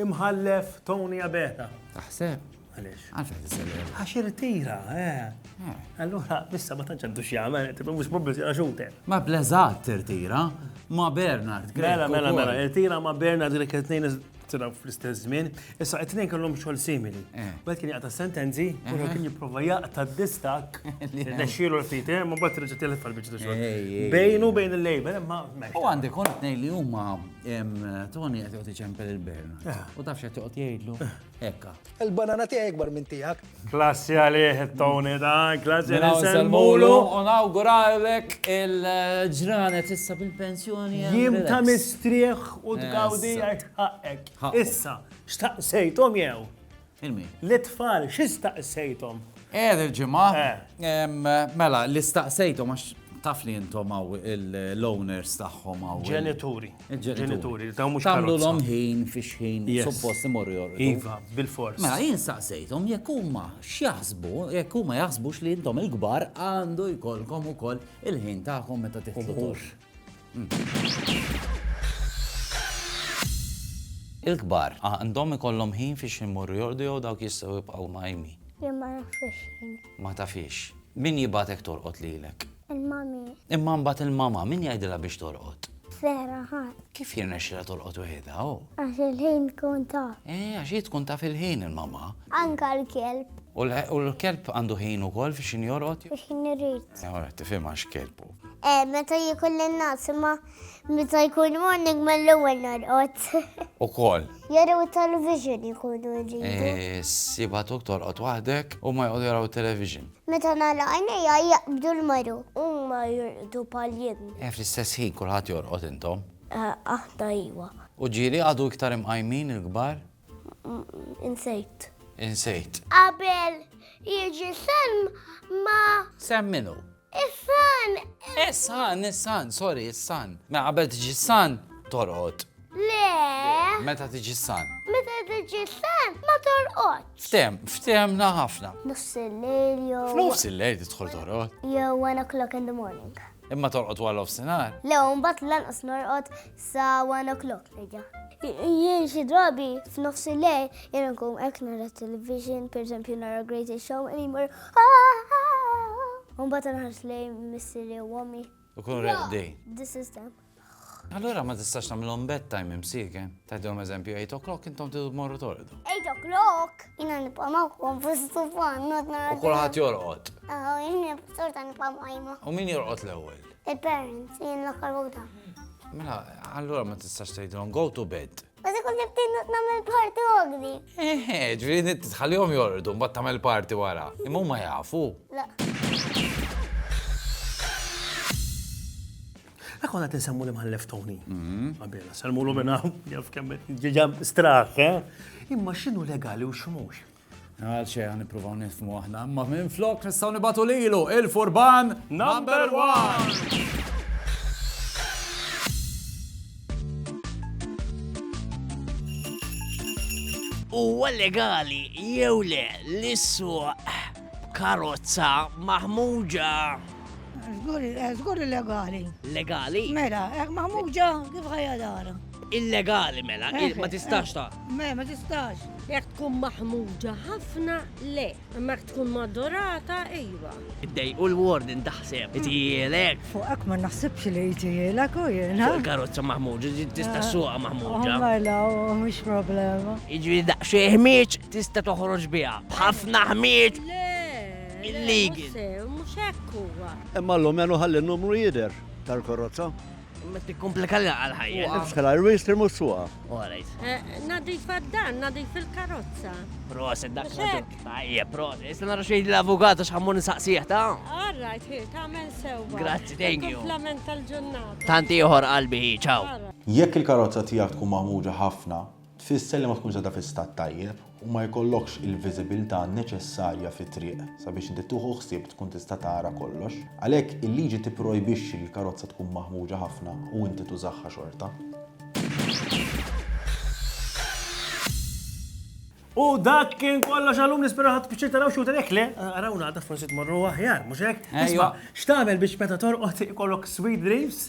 Imħallef Tony Abela. Taħseb? Għaliex? Għalx qed isellem. Għax irtira, eh. Allura, issa ma tantx għandu x'jagħmel, tibqa' mhux problemi għax xuter. Ma bleżat tirtira, ma Bernard Grek. Mela, mela, mela, irtira ma Bernard Grek it-tnejn tiraw fl-istess żmien, issa it-tnejn kellhom xogħol simili. Bad kien jaqta' sentenzi, u kien jipprova jaqta' distak, nexxielu l-ftit, ma bad reġgħet telef għal-biċċa xogħol. Bejnu bejn il-lejber, ma. U għandi kont ngħid li huma Tony qed joqgħod iċempel il-Bernard. Ah. U tafx qed joqgħod jgħidlu ekka. Il-banana tiegħi ikbar minn tiegħek. Klassi għalih Tony da, klassi mela, għalih semmulu. U nawguralek il-ġranet issa bil-pensjoni. Jim ta' mistrieħ u tgawdi għajt ħaqek. Issa, xtaqsejtom jew? Il-min? L-itfal, x'istaqsejthom? Eh, il-ġimgħa. Eh. Mela, li staqsejthom għax taf li intom għaw l-owners tagħhom għaw. Ġenituri. Ġenituri, ta' mhux Tamlu l ħin fiex ħin suppost imorru jorru. Iva, bil-fors. Mela jien saqsejthom jekk huma x'jaħsbu, jekk huma jaħsbux li intom il-kbar għandu jkollkom ukoll il-ħin tagħkom meta tiħdu. Il-kbar għandhom ikollhom ħin fiex imorru jorqdu jew dawk jistgħu jibqgħu mqajmin? Jien ma nafhiex ħin. Ma tafhiex. Min jibgħatek torqod lilek? Il-mami. Imma mbagħad il-mama min jgħidilha biex torqod? Vera ħadd. Kif jirnexxilha torqod weħidha hu? Għax il-ħin tkun taf. Eh, għax hi tkun taf il-ħin il-mama. Anka l-kelb. U l-kelb għandu ħin ukoll fiex jinjorqod? Fiex jinjorqod. Ora, tifhimha x'kelb hu. Eh, meta jikun l-nas, ma meta jkun morning ma l-ewel norqot. U kol. Jaraw television jikunu ġidu. Eh, siba tuk torqot wahdek u ma jgħodu jaraw television. Meta nala għajnija jaqbdu l-maru. U ma jirqdu pal-jim. Eh, fl-istess ħin kulħat jorqot intom. Eh, aħna iwa. U ġiri għadu iktar imqajmin il-gbar? Insejt. Insejt. Qabel jiġi salm ma. Sem minu? Is-san. Is-san, is-san, sorry, is-san. Ma qabel tiġi s-san, torqod. Le. Meta tiġi s-san? Meta tiġi s-san, ma torqod. Ftem, ftemna ħafna. Nofs il-lejl jew. Nofs il-lejl tidħol torqod. Jew 1 o'clock in the morning. Imma torqod wara l-ofsinar? Le, mbagħad lanqas norqod sa one o'clock nerġa'. Jien xi drabi f'nofs il-lejl jien nkun hekk nara television, pereżempju nara Greatest Show anymore. Mbagħad nħares lejn missieri u ommi. U kun reqdi. This is them. Allura ma tistax nagħmilhom bedtime imsieke. Tgħidilhom eżempju 8 o'clock intom tidu morru torqdu. 8 o'clock? Jiena nibqa' magħhom fis-sufan not nara. U kulħadd jorqod. Aħ, jien sorta nibqa' magħhom. U min jorqod l-ewwel? Il-parents, jien l-aħħar waħda. Mela, allura ma tistax tgħidilhom go to bed. Ma se kont nibtin nagħmel party ogni. Eħe, ġifieri tħallihom jorqdu mbagħad tagħmel party wara. Imma huma jafu. La. Dak konna tinsemmu li mħallef Tony. Mhm. Għabela, salmu l minna, jaf kemmet, ġiġa straħ, eh? Imma xinu legali u xmux? Għal xejn għan nippruvaw nifmu aħna, imma minn flok nistgħu nibatu lilu il-furban number one! huwa legali jew le li suq karozza maħmuġa. Zgur eh, legali. Legali? Mela, eh, maħmuġa kif ħajja dara? Illegali mela, eh, ma tistax eh, ta'. Me, ma tistax. Jek tkun maħmuġa ħafna, le. Ma tkun madorata, ejwa. Iddej u l-warden taħseb, itijielek. Fuqek ma naħsibx li itijielek u jena. Fuq il-karozza maħmuġa, tista' eh, suqa maħmuġa. Mela, mux problema. Iġri daqxie ħmieċ tista' toħroġ biha. B'ħafna ħmieċ. Illegal. Mux hekk huwa. Imma l-lumenu ħalli n-numru jider tal-karozza. Ma tikkumplika li għal ħajja. Nifsħela l-wis tirmu suqa. Alright. Eh, nadif għaddan, nadif il-karozza. Proset, dak Tajja, proset. Issa nara xejn l-avukat għax ħammur nsaqsieħ ta' Alright, hi, tagħmel sew. Grazzi, thank you. Komplement tal-ġurnata. Tanti ieħor qalbi, ciao. Jekk il-karozza tiegħek tkun maħmuġa ħafna, Tfisser li ma tkunx għadha fi stat tajjeb u ma jkollokx il-viżibilità neċessarja fit-triq sabiex inti tieħu ħsieb tkun tista' tara kollox. Għalhekk, il-liġi tipprojbixxi li l-karozza tkun maħmuġa ħafna u inti tużaha xorta. U dak kien kollox għallum nispera ħadd piċċir taraw xi jekk le, arawna għadha forsi tmorru aħjar, mhux hekk? Isma', x'tagħmel biex meta torqod ikollok sweet dreams?